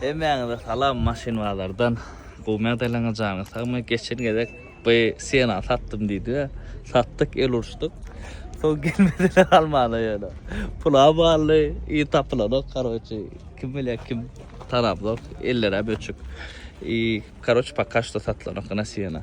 Hemmäňize salam maşyn bazardan gowy magdalaňa janyňyz sagmy geçen gezek by siena satdym diýdi we satdyk el uruşdyk soň gelmediler galmana ýöne pula bally i tapylanok karoçi kim bilýä kim tanapzok ellerä böçük i karoçi poka şto satylanok ina siena.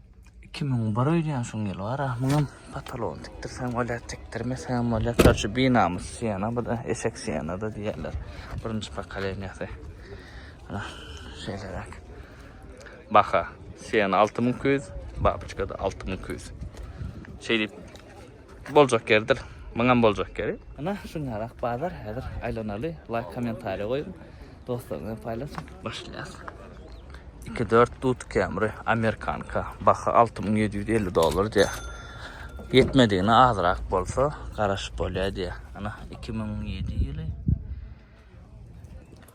Iki müň bir öýdýän şuň ýyl bar ahmyňam patalogyny tikdirseň bolýar tikdirmeseňem bolýar korçe binamys siýena bu-da eşek siýenada diýýärler birinji pokoleniýasy ana şeýleräk baha siýena alty müň iki ýüz babyçkada alty müň iki ýüz şeýdip Boljak ýerdir. Muňam boljak ýeri. Ana şunýarak bazar häzir aýlanaly. Laýk kommentariýa goýuň. Dostlaryň bilen paýlaşyň. Başlaýas. Iki dört dut kemri amerikanka. Baha alty müň ýedi ýüz elli dollar diýýär. Ýetmedigine azrak bolsa garaşyp bolýar diýýär. Ana iki müň ýedi ýyly.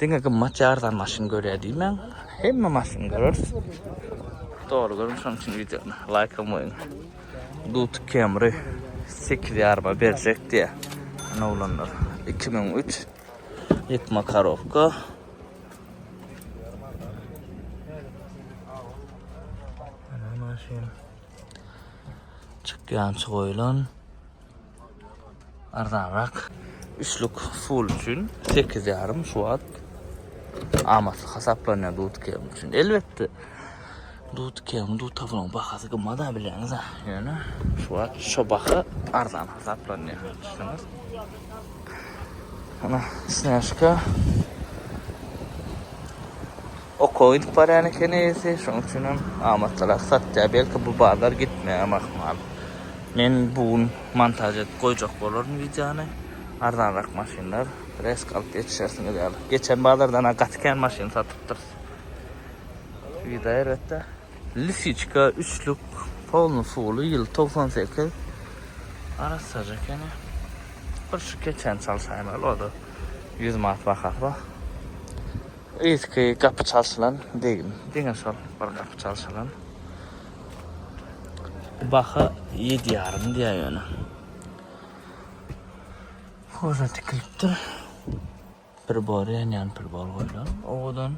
Diňe gymmat ýa arzan maşyn görýär diýmäň. Hemme maşyny göreris. Dogry görüň şonuň üçin wideony laýka goýuň. Duty Camry sekiz ýaryma berjek diýýär. Ene oglanlar. Iki müň üç. Ýykma korobka. Ene maşyn. Çykýançy goýlan. Arzanrak üçlük full üçin sekiz ýarym şu wagt amatly hasaplanýar dudkem üçin. Elbetde dudkem, dutawlaň bahasy gymmat-a bilýäňiz-ä. Ýöne şu wagt şu baha arzan hasaplanýar. Düşündiňiz? Ana, snäşka. Oka gidip barýan eken eýesi, şonuň üçin hem amatlyrak satýar. Belki bu bazar gitmeýärem ahmal. Men bu gün montaž edip goýjak bolaryn wideony. Arzanrak maşynlar resk alyp ýetişersiňiz ýaly. Geçen bazardan-a gaty kän maşyn satypdyrys. Wida erbetde. Lisiçka üçlük polny suwly ýyl togsan sekiz. Arassaja ekeni. Bir şu keçäni çalşaýmaly o-da ýüz manat bahasy bar. Yzky gapy çalşylan degim. Diňe şol bir gapy çalşylan. Baha ýedi ýarym diýýär ýöne. Hoja tikilipdir. Pribor ýanýan pribor goýlan owadan.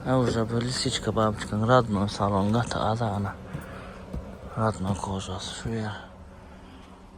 Hoja bu lisiçka babyçkaň radno salon gaty az ana. Radno kožasy şu ýer.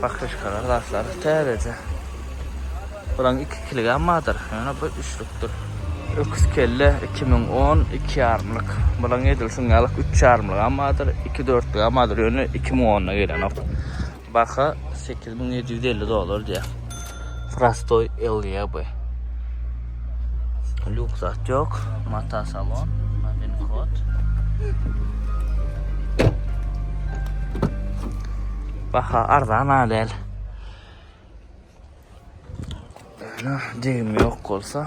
Pakryşkalar zatlar täzeje. Bulaň iki kiligem bardyr. Ýöne bu üçlükdir. Öküz kelle iki müň on iki ýarymlyk. Bulaň edil şuň ýalyk üç ýarymlygam bardyr, iki dörtlügem bardyr. Ýöne iki müň onna gelenok. Baha sekiz müň ýedi ýüz elli dollar diýýär. Prostoy LYB. Luk zat yok. Mata salon. Nabin kod. Baha arzan adel. Degim yok olsa.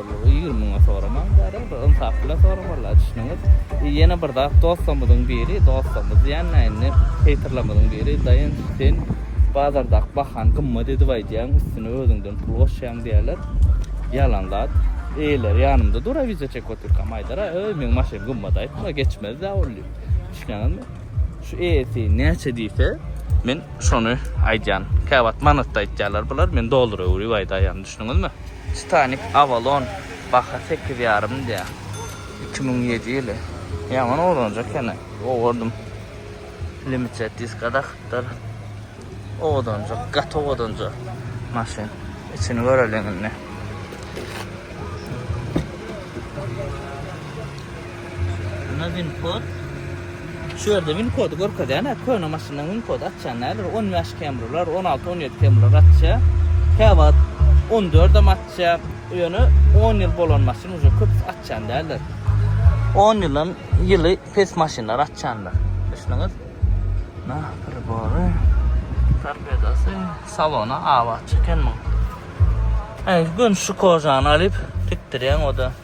Ýigrimi müňe soramaň bari bir ynsap bilen soraň walla düşüniňiz i ýene bir zat dostlarmyzyň biri dostlarmyz diýänmi indi heýterlarmyzyň biri daýanç sen bazardaky bahany gymmat edip aýdýaň üstüne özüňden pul goşýaň diýýäler ýalan zat eýeleri ýanymda dura wideo çekip otyrkam aýdara öý meň maşyn gymmat aýtma geçmezdä ol diýip düşünýäňizmi şu eýesi näçe diýse men şony aýdýan käwagt manatda aýtýalar bular men dollara öwrüp aýdaýan düşüniňizmi. Titanik Avalon baha sekiz ýarym diýýär. Iki müň ýedi ýyly. Ýaman owranjak ýene. Owardym. Limited diska dakypdyr. Owadanjak, gaty owadanja maşyn. Içini göreliň indi. Buna win kod. Şu ýerde win kody görkezýän, hä, köne maşynlaryň win kody atýan näler, 15 kemrular, 16, 17 kemrular atýa. Käwagt 14 hem atýa. Ýöne 10 ýyl bolan maşyn uje köpüsi atýan däldir. 10 ýyldan ýyly pes maşynlar atýandyr. Düşündüňiz? Na, pribory, torpedosy, salona awa çeken muň. Äý, göni şu kojany alyp tikdirýäň oda.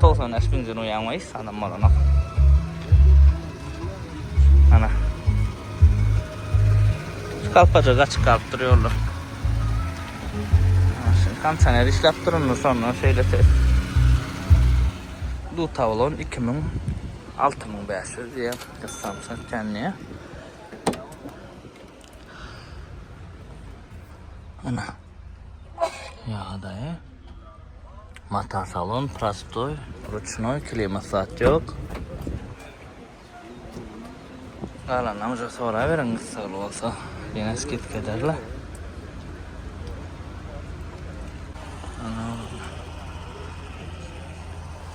Togsan bäş gün jürýän we hiç adam bolanok. Ana. Kalpajak açyk galyp dur ýolda. Şimdi kondisioner işläp durundy sonra şeýle ses. Du tavlon 2000 6500 diýen kyssansa känniýe. Ana. Ýagdaýy. Mata salon prostoy, ruçnoý, klimat zat ýok. Galanam uja sora beriň gyssaly bolsa. Ýene skip ederler. Ana.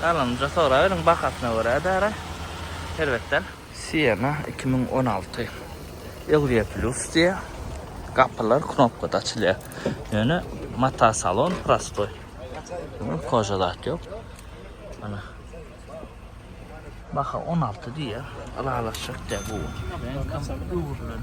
Galanynja soraberiň bahasyna görä dara erbetden. Siena iki müň on alty Eurier Plus diýýär. Gapylar knopkada açylýar. Ýöne mata salon prostoý. Koja zat ýok. Ana. Baha on alty diýýär. Ylalaşjak däl bu. Reňkam öwrülen.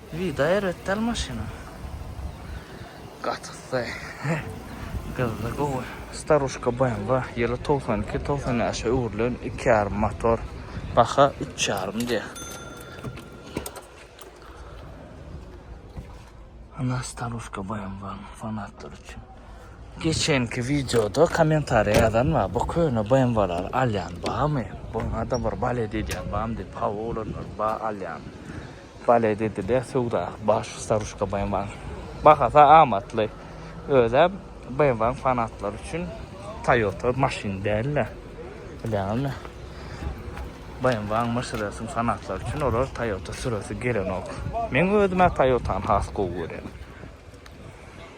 Vida erbet dal maşyna. Gatyksy. Gyzda gowy. Staruşka BMW ýyly togsan iki togsan bäşe öwrülen iki ýarym motor. Baha üç ýarym diýýär. Ana staruşka BMW fanatlar üçin. Geçenki wideoda kommentariýa ýazan bar. Bu köne BMW-lary alýan barmy? Buňa-da bir balet edýän barmy diýip. Hawa olanlar bar alýan. Bale dediler söwda baş Saruşka BMWAň bahasy amatly. Özä BMWAň fanatlary üçin Toyota maşyn dälde. Bilýäňizmi? BMWAň Mersedesiň fanatlary üçin olar Toyota süresi gelenok. Meň özümä Toyotany has gowy görýän.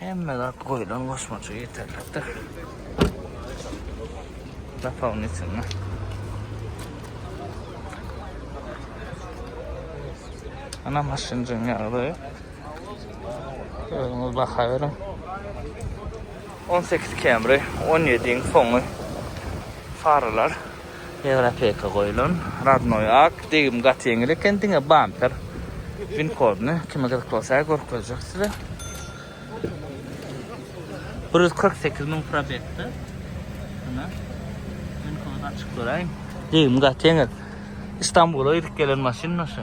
Hemme zat goýlan goşmaça ýeterlikdir. Dopownitelne. Ana maşynjyň ýagdaýy. Özüňiz baha beriň. 18 Camry, 17-iň soňy faralar. Ýewropeka goýulan Rodnoý ak degim gaty ýeňil eken diňe bamper win kodyny kime gyzyk bolsa görkezjek size bir ýüz kyrk sekiz müň probegde ine win kody açyk duraýyn degim gaty ýeňil Istanbula gidip gelen maşyn şu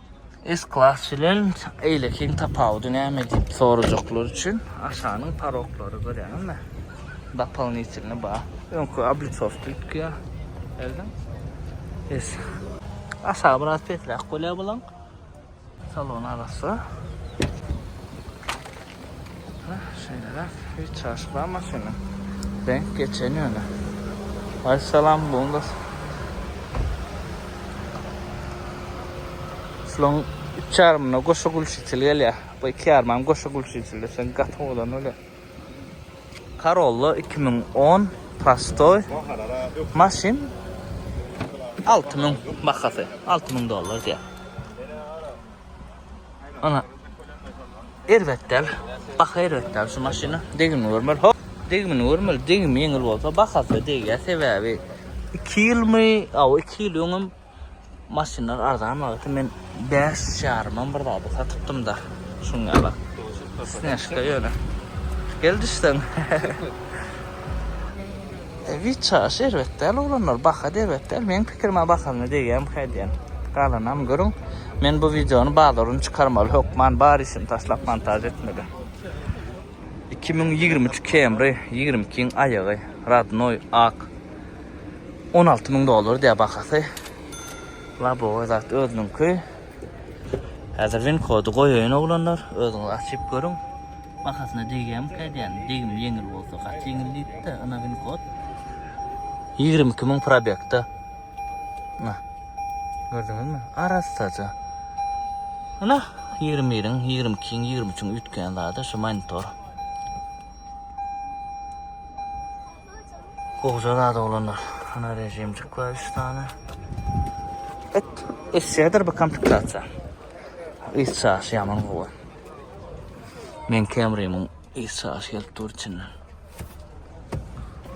S-Class bilen eýlekiň tapawudy näme diýip sorajaklar üçin aşanyň paroklary görýäňizmi? Dopolinitelny bar. Öňki obliçowki tutýar. Gördüň? Es. Aşağı biraz pesräk bolýar bulaň. Salon arassa. Şeýleräk hiç çaşy bar maşynyň. Denk geçen ýöne. Aý salam Bundus. Şulaň üç ýarymyna goşa gülçiçil gelýär. Bu iki ýarymam goşa gülçiçildir. Sen gaty owadan bolýar. Karolla iki müň on prostoý maşyn alty müň bahasy. Alty müň dollar diýýär. Ana. Erbet däl. Baha erbet däl şu maşyna. Degimini görmeli. Hop. Degimini görmeli. Degimi ýeňil bolsa bahasy degýär. Sebäbi 2 ýylmy, aw 2 ýyl öňem maşynlar arzan wagty men 5 ýarym bir zady satypdym da. Şuňa bak. Snäşka ýöne. Gel düşsen. Wiçaş erbet däl oglanlar bahada erbet däl meň pikirime bahalyna degýämi kädýän galanam görüň men bu wideony bazaryny çykarmaly hökman bar işimi taşlap montaž etmeli iki müň ýigrimi üç kemry ýigrimi ikiň aýagy radnoý ak on alty müň dollar diýýä bahasy labowy zat özüniňki. Häzir win kody goýaýyn oglanlar, özüňiz açyp görüň. Bahasyna degýämikä edýän, degim ýeňil bolsa gaty ýeňil diýipdi, ynha win kod. Ýigrimi iki müň probegda. Ynha. Gördüňizmi? Arassaja. Ynha, ýigrimi biriň, ýigrimi ikiň, ýigrimi üçiň üýtgeýän zady şu monitor. Goja zat oglanlar. Ana rejimcik var 3 tane. Et esýädir bu komplektatsiýa. Is çaşy ýaman gowy. Men Camry-myň is çaşy gelip dur içinden.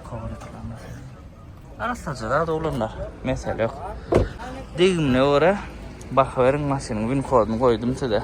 Kowalyklanlar. Arassaja zat oglanlar. Mesele ýok. Degimine görä baha beriň maşynyň win koduny goýdum size.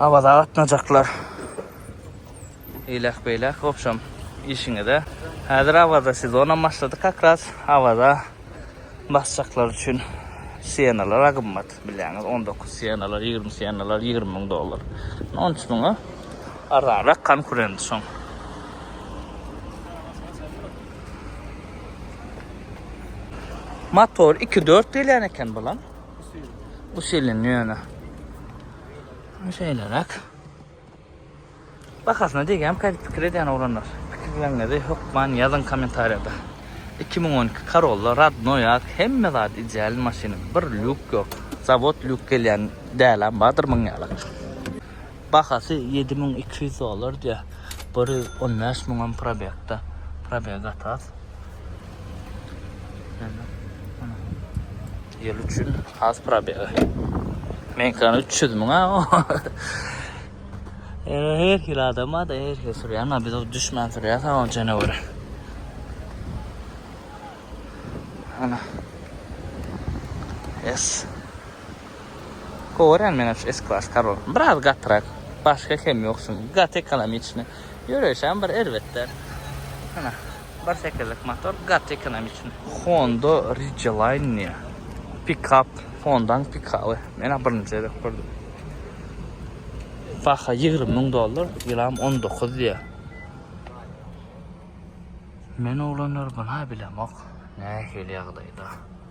Awaza gatnajaklar. Eýläk beýläk wobşem işiňize. Häzir Awaza sezonam başlady kakras Awaza basjaklar üçin sienalar agymmat bilýäňiz on dokuz sienalar ýigrimi sienalar ýigrimi müň dollar on üç müňe arzanrak konkurent şoň. Motor iki dört gelýän eken bulam. Bu silin ýöne. Şeýleräk. Bahasyna diýgem, käte pikir edýän oglanlar. Pikirleriňizi hökman ýazyň kommentariýada. 2012 Corolla radnoý ak, hemme zat ideal maşynyň. Bir lýuk ýok. Zawod lýuk gelýän dälem bardyr muň ýaly. Bahasy ýedi müň iki ýüz dollar diýýär. Bir ýüz on bäş müňem probegda. Probeg atas. Ýyl üçin has probeg. Meňkany üç ýüz müň-a. Ýöne her hili adam bar-da, her hili sürýän bar. Biz düşmän sürýäs ol jeneweri. Ana. Ýes. Gowaran meňe şu S klass karol. Biraz gatyrak. Başga kem ýok şuň. Gaty ekonomiçny. Ýöreýşem bir erbet däl. Ana. Bir sekizlik motor gaty ekonomiçny. Honda Ridgeline. Pikap. Hondaň pikaby. Menä birinji gezek gördüm. Baha ýigrimi müň dollar. Ýylam on dokuz diýýär. Men oglanlar bina bilemok. Nähili ýagdaýda.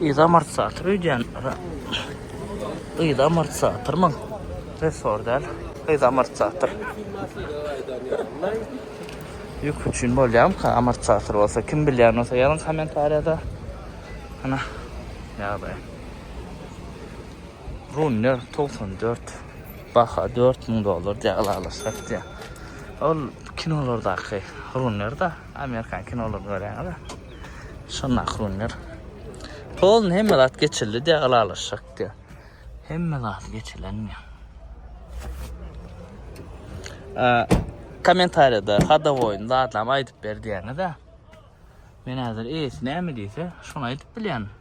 Yza amortizator öýdýän. Yza amortizatormy? Ressor däl. Yza amortizator. Ýük üçin bolýamka amortizator bolsa kim bilýän bolsa ýazyň kommentariýada. Ana. Ýagdaý. Runner 94. Baha 4000 dollar diýe alalaşyp diýe. Ol kinolardaky runner da, amerikan kinolaryny görýäňiz. Şondaky günler. Polny hemme zat geçildi diye alalaşak diye. Hemme zat geçilen mi? Ee, komentariyada Hadavoy'un da adam aydıp ber diyene de. Men hazır eýesi näme diýse, şony aýdyp bilýän.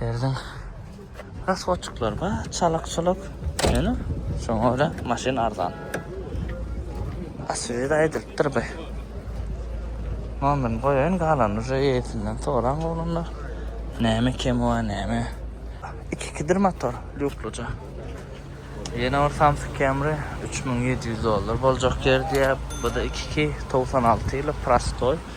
Derdiň raswodçyklar bar, çalykçylyk. Ýöne şoňa görä maşyn arzan. Asfalt aýdylypdyr bu. Nomerini goýaýyn, galanyny uje eýesinden soraň oglanlar. Näme kemi bar, näme? Iki-ikidir motor, lýukluja. Ýene bir Samsung Camry üç müň ýedi ýüz dollar boljak ýer diýýär. Bu-da iki-iki, togsan alty ýyly, prostoý.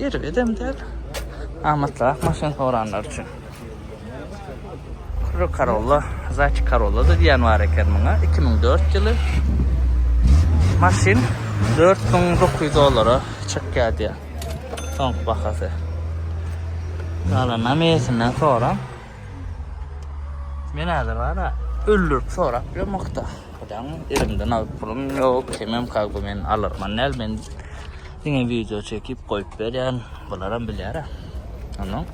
Erbedem däl. Amatlarak maşyn soranlar üçin. Kuru Karolla, Zaçi Karolla da diýen bar eken muňa. 2004 ýyly. Maşyn 4900 dollara çykýar diýär. Soňky bahasy. Galanam eýesinden soran. Men häzir bara öldürip sorap ýörmekde. Adam elimden alyp pulum ýok. Kimem kalby men alarman näl men. Diňe video çekip goýup berýän. Bularam bilýär. Ondan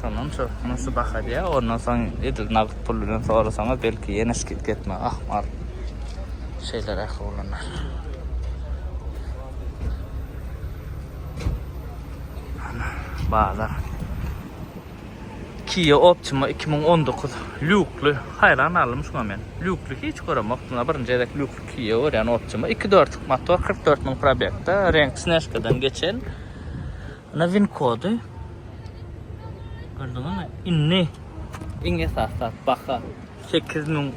Şondan şu nasy baha diýä. Ondan soň edil nagt pul bilen sorasaňyz belki ýene skit getme. Ah, mar. Şeýle rahat bolanda. Ana, bazar. Kia Optima iki müň on dokuz lýukly. Haýran galdym şuňa men. Lýukly hiç göremokdym. A birinji gezek lýukly Kia görýän Optima. Iki dörtlük motor, kyrk dört müň probegda, reňk snejkadan geçen. Ana win kody. Gördüňizmi? Indi iň esasy zat baha sekiz müň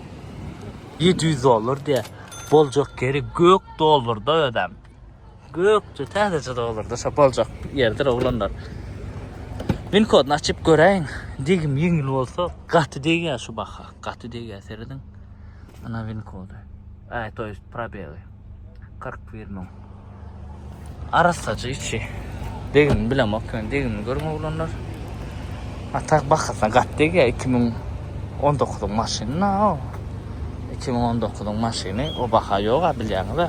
ýedi ýüz dollar diýýär. Boljak ýeri gök dollarda özem. Gökçe täzeçe dogulurda şo boljak ýerdir oglanlar. Win koduny açyp göräýiň. Degim ýeňil bolsa gaty degýär şu baha. Gaty degýär serediň. Ana win kody. Aý, to ýest probeli. 41 müň. Arassaja içi. Degim bilemok, men degim görüň oglanlar. Atak bahasyna gaty degýär 2019-yň maşyny. 2019-yň maşyny o baha ýoga bilýäňiz-ä.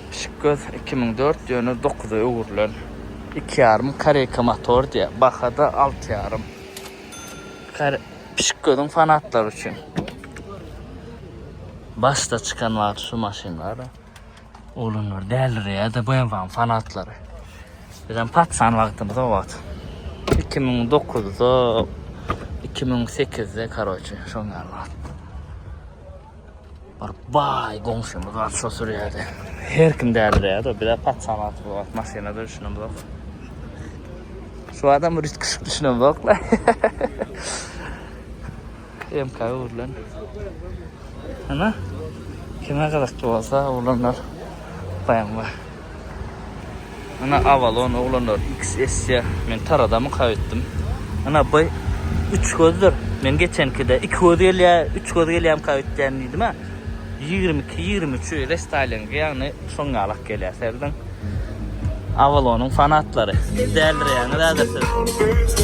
Pişik göz iki müň dört ýöne dokuza öwrülen. Iki ýarym koreýka motor diýýär. Bahada alty ýarym. Pişik gözüň fanatlary üçin. Başda çykan wagty şu maşynlar. Oglanlar dälireýär-de BMW-niň fanatlary. Bizem patsan wagtymyz o wagt. 2009-da, 2008-de, karoçe, şoň ýaly wagt. Bir baý goňşymyz bar, şo sürýärdi. Her kim dädirýärdi, bir de patsanat bu wagt maşynada düşünemzok. Şu adam bir üstkeşik düşünemzok la. MK urlan. Ana, kime gyzykly bolsa, urlanlar. Baýam bar. Ina Avalon oglanlar XS-ä men taradamyka öýtdüm. Ina by üç gözdir. Men geçenkide iki göz gelýä, üç göz gelýämka öýtdýän diýdim-ä. Ýigrimi iki, ýigrimi üçi restaýlingi ýagny şoň ýalak gelýä serediň. Avalonyň fanatlary. Dälirýäňiz häzir siz.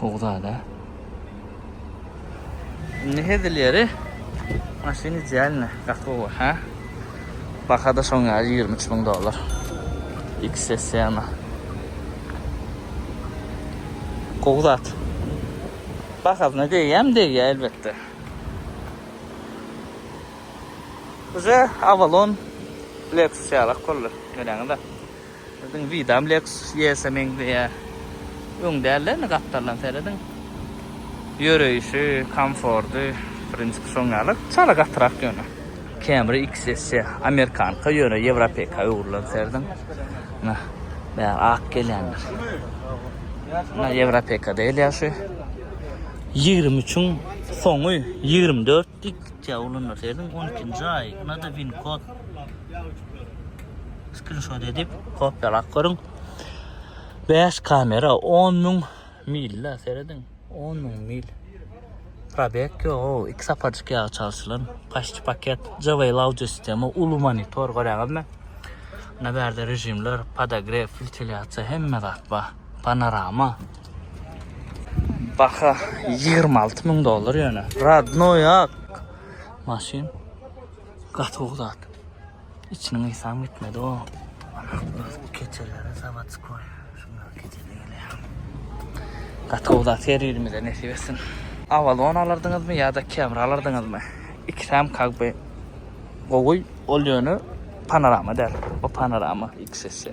Gowy zada. Ne hezil yeri? Maşyny cälne, gaty ha? Baka da şoň ýaly 23 müň dollar. XSM. Gowy zat. Bakazyna deýýäm deýýä elbetde. Уже Avalon Lexus ýalak boldy. Göräňiz-ä. Siziň widam Lexus YS-e meňzeýär. Öň däl-de indi gapdaldan serediň. Ýöreýşi, komforty, prinsipi şoň ýaly. Çala gatyrak ýöne. Camry XSC amerikanka ýöne ýewropeka öwrülen serediň. Ynha, bäri ak gelýänler. Ynha ýewropeka däl ýa şu. Ýigrimi üçüň soňy, ýigrimi dört. Ýitýä ulunda serdiň on ikinji aý nada win kod skrinşot edip kopýalap görüň bäş kamera on müň milde serediň on müň mil probek ýok o iki sapajyk ýagy çalşylan paşçy paket jaway lauce sistema uly monitor görýäňizmi na bärde režimler podagref filteliatsiýa hemme zat bar panorama Baha 26 müň dollar ýöne. Radnoy ak. Maşyn. Gaty gowy zat. İçiniň isam gitmedi o. Keçelere sabat koy. Şuna keçele geliyor. Gaty gowy zat her birimize nesip etsin. Avalon alardınız mı ya da Camry alardınız mı? İkisem kagbe gowy ol yönü panorama der. O panorama ikisi.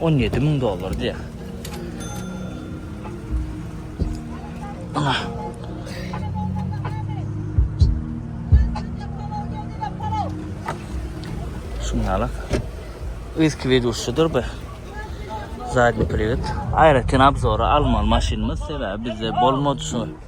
On ýedi müň dollar diýýär. Ana. Şunlara. Eski videosudur be. Zadni privet. Aýratyn obzora almaly maşynymyz sebäbi bizde bolmady şu.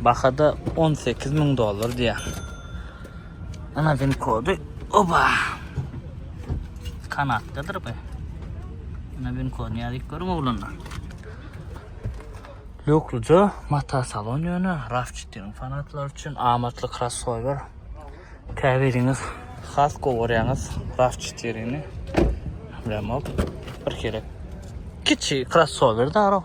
Bahada on sekiz müň dollar diýýär. Ana pin kody. Oba. Kanatdadyr be. Ana pin kod näzik görüň oglanlar. Lukluca mata salon ýöne RAV4 fanatlar üçin amatly crossover. Käbiriňiz has gowarýaňyz RAV4-ni. Bilemok. Bir kere kiçi crossover daro.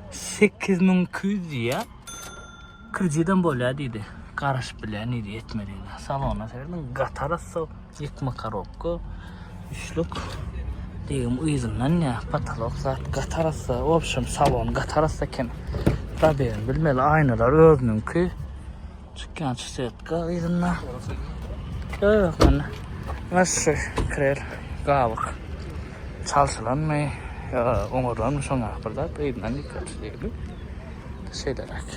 Sekiz müň iki ýüz diýýär. Kredidem bolýar diýdi. Garaşyp bilýär nirä ýetmediginden. Salona serdim. Gatarassa, ýykma korobka, üçlük. Degim yzyndan ýa patalok zat gatarassa, w obşem salon gatarassa eken. Dabegin bilmeli aýnalar özüniňki. Çykýan çysetka yzynda. Ýok mende. Naşşy krel gabyk. Çalşylanmy? Ýa oňarylanmy şoňa bir zat yzyndan gitýär diýdi. Şeýleräk.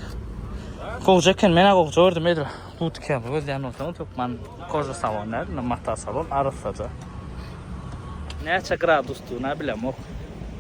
Gowja eken, men-ä gowja gördüm edil. Butikany gözleýän bolsaňyz hökman koja salon däl, mata salon arassaja. Näçe gradusdygyny-a bilemok.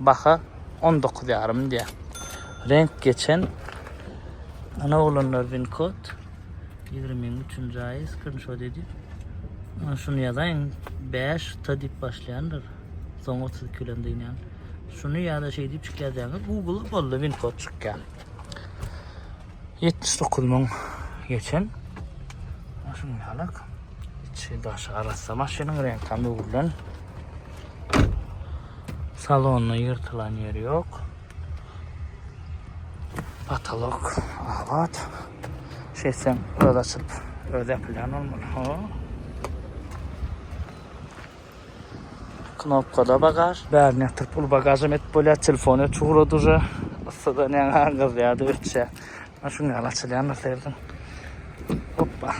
Baha on dokuz ýarym diýýär. Reňk geçen. Ana oglanlar win kod. Ýigrimiň üçünji aýy skrinşot edip. Ana şuny ýazaýyň. Bäş t diýip başlaýandyr. Soň otuz iki bilen dynýan. Şuny ýa-da şeý diýip çyk ýazýaňyz. Google boldy win kod çykýar. Ýetmiş dokuz müň geçen. Ana şuny ýalak. Içi daşy arassa maşynyň reňkam öwrülen. Salonda ýyrtylan ýeri ýok. Potolok abat. Şeýtseň öz açyp, öz ýapylýan bolmaly. Ho. Knopkada bagaž. Bärini ýatyryp uly bagažam etip bolýar. Telefon öçüp ugrady uje. Yssydan ýaňa gyzýardy, öçýär. Ana şuny ýaly açylýandyr seýrediň. Hoppa.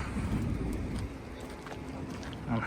Ana.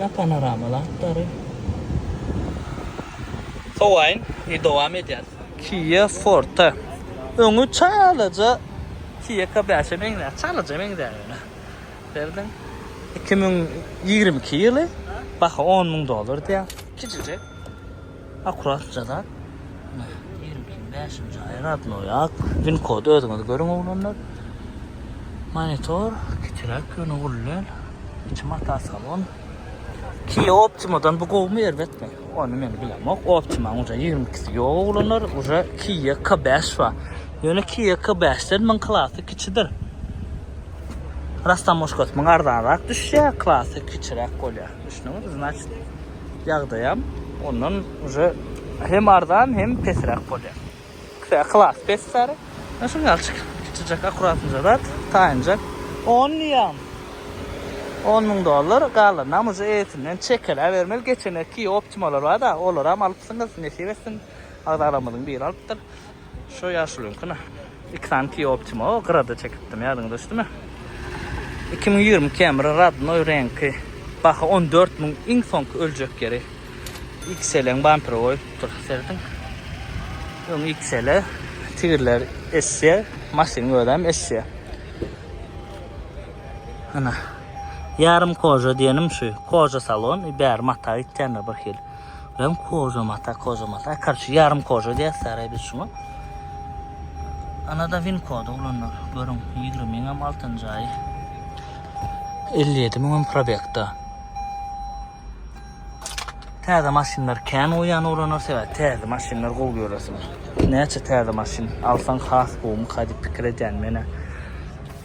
Ýa panoramaly atlary. Sowaýyn we dowam edýäs. Kia Forte. Öňi çalaja Kia K-beşe meňzär. Çalaja meňzär ýöne. Berdin. Iki müň ýigrimi iki ýyly. Baha on müň dollar diýýär. Kiçijek. Akuratja zat. Ine, ýigrimi bäşinji aý rodnoý ak. Win kody özüňiz görüň oglanlar. Monitor kiçiräk ýöne uly däl. Içi mata salon. Kia Optima-dan bu gowumy erbetmi? Ony men bilemok. Optima-nyň uje ýigrimi ikisi ýok oglanlar. Uje Kia K bäş bar. Ýöne Kia K bäşden muň klasy kiçidir. Rastamoşkasy muňa arzanrak düşýär, klasy kiçiräk bolýar. Düşdüňizmi? Znaçt, Ýagdaýam ondan uje hem arzan hem pesräk bolýar. Kra klas pes bäri. Ýa şuny alçyk kiçijek akuratnja zat taýynjak. On diýýäm. On müň dollar galanynam uje eýesinden çekeläbermeli. Geçen erki optimalar bar-da olaram alypsyňyz. Nesip etsin. Agzalarymyzyň biri alypdyr. Şo ýaşulyňkyny iki sany Kia Optima o gyrada çekipdim, ýadyňa düşdümi? Iki müň ýigrimi Camry rodnoý reňki, baha on dört müň, iň soňky öljek ýeri. XL-iň bamperi goýupdyr, serediň. Öň XL, tigirler Essia, maşynyň özem Essia. Ana, ýarym koja diýenim şu, koja salon, bäri mata gitýändir birhili. Prem koža mata, koža mata. Karçu yarım koža diye saray biz şuna. Anada vin kodu olanlar. Görün 20 bin hem altın cayı. 57 bin hem probekta. Täze maşynlar kän oýan olanlar sebäp täze maşynlar gowy göresiňiz. Näçe täze maşyn alsaň has gowumy hadi pikir edýän menä.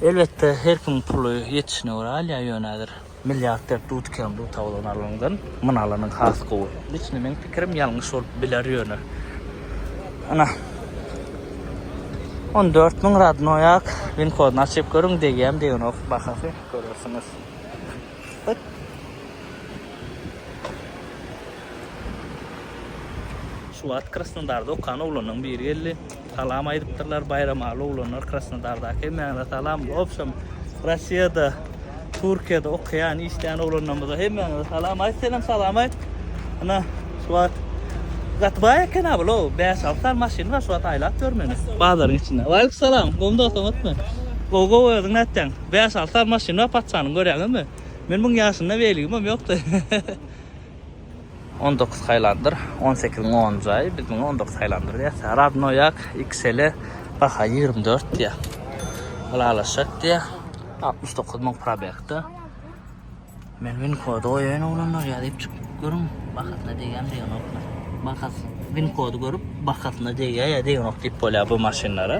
Elbetde her kim puly ýetişine görä alýar ýöne häzir. Milliarder dudkem duta bolan alanyňdan myn alanyň has gowy. Liçny meň pikirim ýalňyş bolup biler ýöne. Ana. On dört müň radnoýak win kodyny açyp görüň degýämi degenok bahasy görersiňiz. Hyt. Şu wagt Krasnodarda okan oglanlaň biri geldi. Salam aýdypdyrlar Baýramaly oglanlar Krasnodardaky hemmäňize salam obşem Rossiýada Türkiýede okaýan işleýän oglanlarymyza hemmäňize salam aýt senem salam aýt Ana şu wagt gaty baý eken a bula bäş alty sany maşyny bar şu wagt aýlap ýör meni bazaryň içinde Waleýkum salam gowy dost oňatmy Gowy gowy özüň nätýäň bäş alty sany maşyny bar patyşanyň görýäňizmi men muň ýaşynda weligimem ýokdy On dokuz haýlandyr, on sekiziň on jaýy, biz muňa on dokuz haýlandyr diýýäs. Radnoýak XL-e baha ýigrimi dört diýýär. Ylalaşjak diýýär. Altmyş dokuz müň probegde. Men win kody goýaýyn oglanlar, ýazyp çykyp görüň, bahasyna degýärmi degenokmy. Bahasy, win kody görüp, bahasyna degýär ýa degenok diýip bolýar bu maşynlara.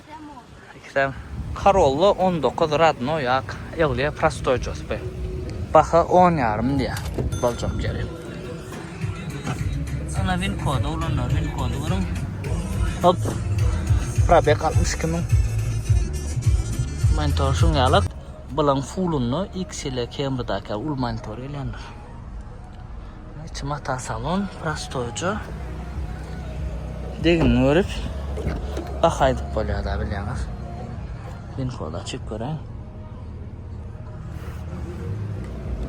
Ikisem Corolla on dokuz radnoý ak Ellia prostoý jospe. Baha on ýarym diýýär. Boljak ýeri. Ana win kody ulanlar win kody görüň. Hop. Probeg altmyş iki müň. Monitor şuň ýalak. Bulaň fullunda X ile Camry daky uly monitor gelýändir. Mata salon prostoýja. Degin görüp baha aýdyp bolýar da bilýäňiz. Info da çyk görä.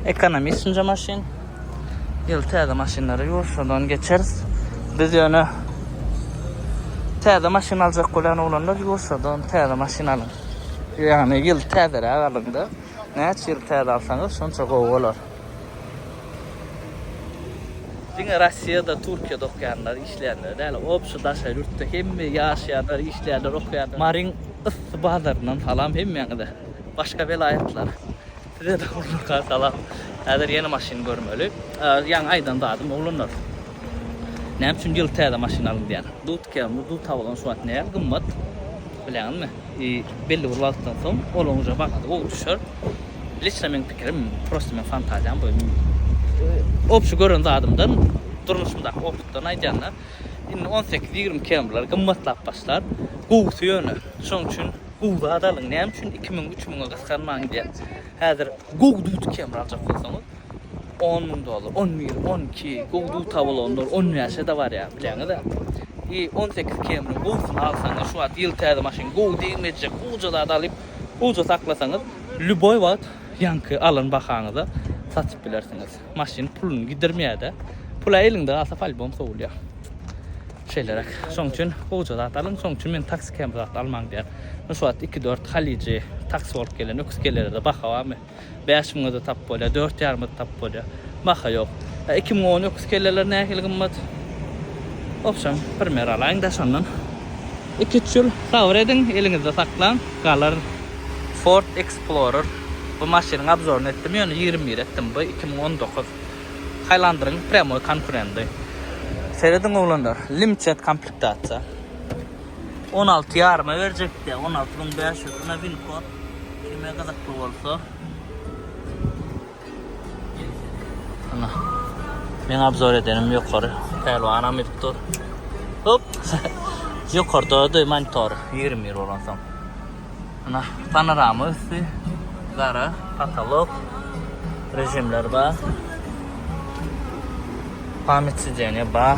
Ekonomistinje maşyn. Ýyl täze maşynlary ýok, şodan geçeris. Biz ýöne täze maşyn aljak bolýan oglanlar ýursadan täze maşyn alyň. Ýagny ýyl täzeräk alyňda. Näçe ýyl täze alsaňyz, şonça gowy bolar. Diňe Rossiýada, Türkiýede okaýanlar, işleýänler däl, obşi daşary ýurtda hemme ýaşaýanlar, işleýänler, okaýanlar. Maryň yssy bazaryndan salam hemmäňize. Başga welaýatlar. Sizede oglanlarka salam. Häzir ýene maşyn görmeli. Ýaňy aýdan zadym oglanlar. Näme üçin ýyl täze maşyn alyň diýýän. Dudka, dudka bolan şu wagt nähili gymmat. Bilýäňizmi? Belli bir wagtdan soň olaň uje bahasy gowy düşer. Liçno meň pikirim, prosta meň fantaziýam bu. Obşi gören zadymdan, durmuşymdaky opytdan aýdýanda, indi on sekiz, ýigrimi kemrler gymmatlap başlar. Gowusy ýöne. Şoň üçin gowy zat alyň. Näme üçin iki müň, üç müňe gysganmaň diýýän. Häzir gowy dut kemri aljak bolsaňyz. On müň dollar, on bir, on iki, gowy duz tabulanlar on bäşe-de barýar, bilýäňiz-ä. I, on sekiz kemriň gowusyny alsaňyz, şu wagt ýyl täze maşyn gowy degmejek, gowuja zat alyp, gowuja saklasaňyz, lýuboý wagt ýaňky alan bahaňyza satyp bilersiňiz. Maşyn puluny gidirmeýär-de. Pul-ä eliňde galsa, polýbom sowulýar. Şeýleräk. Şonuň üçin gowuja zat alyň. Şonuň üçin men taksi kemri zat almaň diýýän. Şu wagt iki-dört halyjy, taksi bolup gelen öküz kelere-de baha barmy? Bäş müňe-de tap bolýar, dört ýarym-a-da tap bolýar. Baha ýok. A iki müň on öküz kelleleri nähili gymmat? Obşem, primer alaýyň-da şondan. Iki-üç ýyl sabyr ediň, eliňizde saklaň, galar. Ford Explorer. Bu maşynyň obzoryny etdim, ýöne ýigrimi bir etdim. Bu iki müň on dokuz. Highlander-iň prýamoý konkurendy. Serediň, oglanlar, limited komplektasiýa. On alty ýaryma berjekdi, on alty müň bäş ýüz. Ine, win-kod. Kime gyzykly bolsa. Ana. Men abzor edenim ýokary. Pälwanam edip dur. Hop. Ýokarda da monitor 20 ýyl bolan soň. Ana panorama üsti. Gara patolok. Rejimler bar. Pamyt sideniýe bar.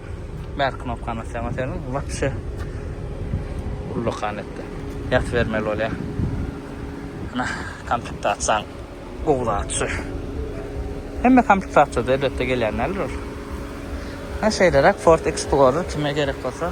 Back knopkany basýaň oteliň wapşe ullakan etdi. Ýaty bermeli bolýa. Ana komplektasiýaň gowy zat şu. Hemme komplektasiýada elbetde gelýän däldir ol. Ana şeýleräk Ford Explorer kime gerek bolsa.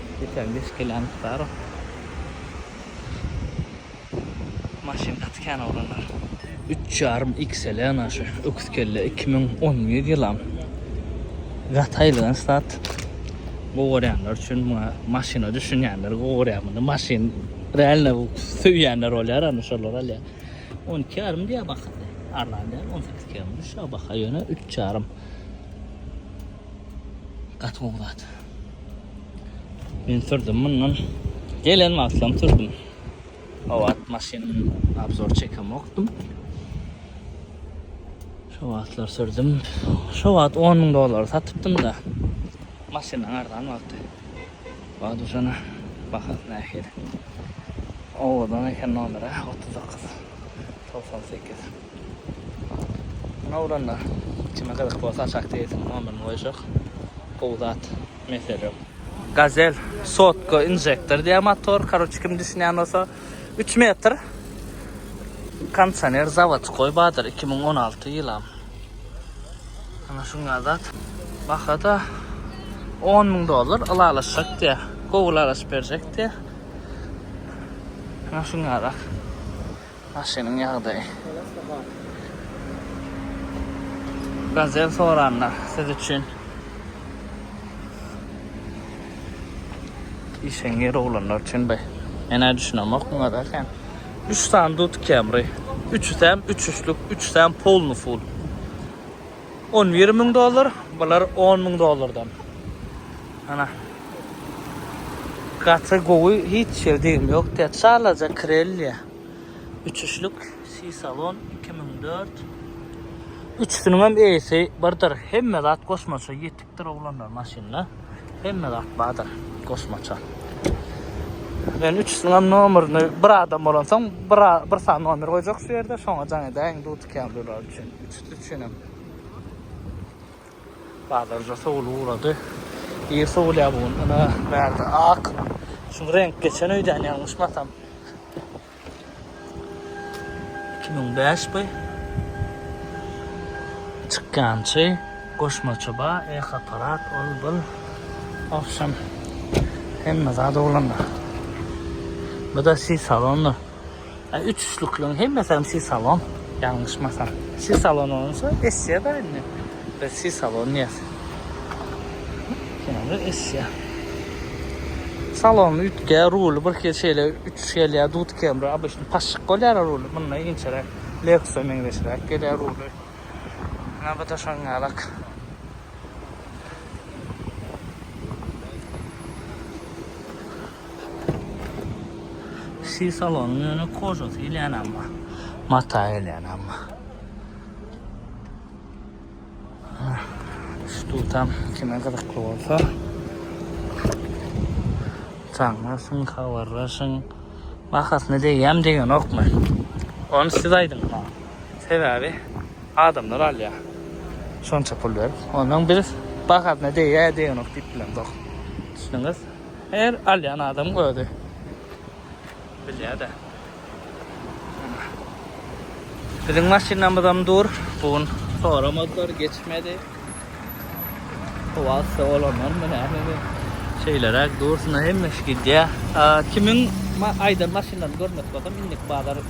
Geçen beş kg mukdar o. Maşyn gaty kän oglanlar. Üç ýarym XL ana şu öküz kelle iki müň on bir ýylam gaty aýylgan stat gowy görýänler üçin muňa maşyna düşünýänler gowy görýär muny maşyn realno söýýänler bolýar ana şolar alýar on iki ýarym diýýär bahasyny arzan däl on sekiz kg düşýär baha ýöne üç ýarym Gaty gowy zat. Men sürdüm mundan. Gelen wagtlam sürdüm. O wagt maşyn abzor çekemokdym. Şu wagtlar sürdüm. Şu wagt 10 ming dollar satypdym da. Maşynyň arzan wagty. Wagt uşana bahasy nähili. Owadan eken nomeri 39 98. Şuny uranda kime gyzyk bolsa aşak serisiň nomerini goýuşok. Gowy zat mesele ýok. Gazel sotka injektor diýýär motor karoçe kim düşünýän bolsa üç metr kondisioner zawodskoý bardyr iki müň on alty ýylam ana şuňňa zat bahada on müň dollar ylalaşjak diýýär gowy ylalaşyp berjek diýýär ana şuňňarak. Maşynyň ýagdaýy. Gazel soranlar siz üçin. Işeňňir oglanlar üçin be. Menä düşünemok muňa da sen. 3 sany dut kemri. Üçüsem üç üçlük, üçüsem polny ful. On bir müň dollar, bular on müň dollardan. Ana. Gaty gowy, hiç ýer degim ýok. Tä çalaja krelliýa. Üç üşlük C-salon iki müň dört. Üçüsiniň hem eýesi birdir. Hemme zat goşmaça ýetikdir oglanlar maşynda. Hemme zat bardyr goşmaça. Men üçüsiniň hem nomerini bir adam bolansoň bir bir sany nomer goýjak şu ýerde, şoňa jaň edäýin, dutykýan durlar üçin. üçinem bazarja sowul ugrady. Ir sowulýar bu gün. Ina bärde ak. Şu renk geçen öýden ýalňyşmasam. 2005 bu. Çykýançy, goşmaça ba, eh aparat, ol bul. Awşam hemme zat oglanlar. Bu da si salonda. Üç üçlükleň hemmesem si salon. Ýalňyşmasam. Si salon bolsa essiýa da indi. Biz si salon diýýäs. Ýa-da essiýa. Salon üýtge, ruly bir hili şeýle üç gelýär, dut kemri, abyşny paşşyk bolýar ruly. Munda inçeräk, Lexus-a meňzeşräk gelýär ruly. Ýa bu-da şoň ýalak. Kişi salonyň ýöne kožasy gelýän amma. Mata gelýän amma. Ştutam kime gyzykly bolsa. Taňlaşyň, habarlaşyň. Bahasyny degýämi degenokmy? Ony siz aýdyň maňa. Sebäbi adamlar alýar. Şonça pul berip. Ondan biz bahasyna degýär degenok diýip bilemzok. Düşdüňiz? Her alýan adamyň özi bilýär-de. Biziň maşynamyzam dur. Bu gün soramadylar, geçmedi. Howa yssy bolandanmy nämemi? Şeýleräk dursun, hemmeş gidýär. Kimiň aýdan maşynlaryny görmekçi bolsam, indiki bazar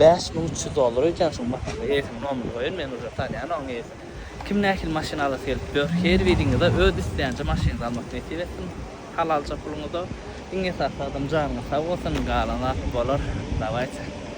Bäş müň üç ýüz dollar öýtýän şuň maşynyň eýesiniň nomerini goýun men uje tanýan oň eýesini kim nähili maşyn alasy gelip ýör her biriňize öz isleýänje maşynyňyzy almak nesip etsin halalja puluňyza iň esasy adam janyňyz sag bolsun galan zaty bolar dawaýçe.